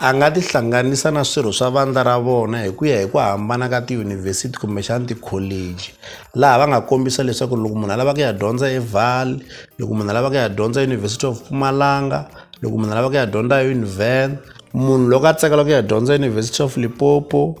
A nga tihlanganisa na swirho swa vandla ra vona hi ku ya hi ku hambana ka tiyunivhesiti kumbexana tikholeji laha va nga kombisa leswaku loko munhu a lava ku ya dyondza eval loko munhu a lava ku ya dyondza University of Mpumalanga loko munhu a lava ku ya dyondza Univen munhu loko a tsakela ku ya dyondza University of Limpopo.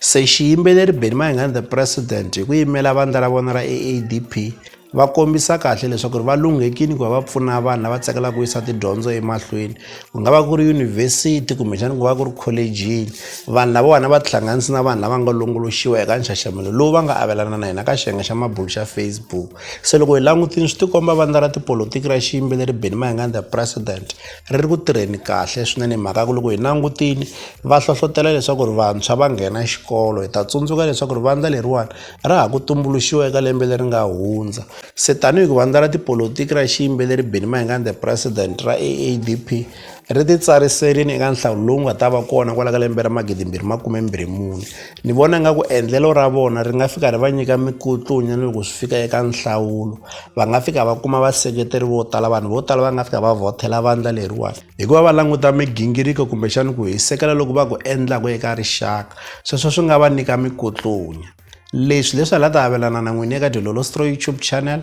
Se xiyimbeleri Benny Mayengani The President hi ku yimela vandla ra vona ra AADP va kombisa kahle leswaku ri va lunghekile ku va va pfuna vanhu lava tsakelaka ku yisa tidyondzo emahlweni ku nga va ku ri yunivhesiti kumbexana ku va ku ri kholejini vanhu lavawani va tihlanganisi na vanhu lava nga longoloxiwa eka nxaxamelo lowu va nga avelana na hina ka xiyenge xa mabulu xa Facebook se loko hi langutile swi tikomba vandla ra tipolotiki ra xiyimbeleri Benny Mayengani The President ri ri ku tirheni kahle swinene hi mhaka ya ku loko hi langutile va hlohlotelo leswaku ri vantshwa va nghena xikolo hi ta tsundzuka leswaku ri vandla leriwani ra ha ku tumbuluxiwa eka lembe leri nga hundza se tanihi ku vandla ra tipolotiki ra xiyimbeleri Benny Mayengani the president ra A_A_D_P ri ti tsariserile eka nhlawulo lowu nga ta va kona kwala ka lembe ra magidimbirhi makume mbirhi mune. Ni vona nga ku endlelo ra vona ri nga fika ri va nyika mikutlunya ni loko swi fika eka nhlawulo va nga fika va kuma vaseketeri vo tala vanhu vo tala va nga fika va vhothela vandla leriwani hikuva va languta migingiriko kumbexani ku hisekela loko va ku endlaku eka rixaka sweswo swi nga va nyika mikutlunya leswi leswi hala ta avelana na n'wini eka dilolostro youtube channel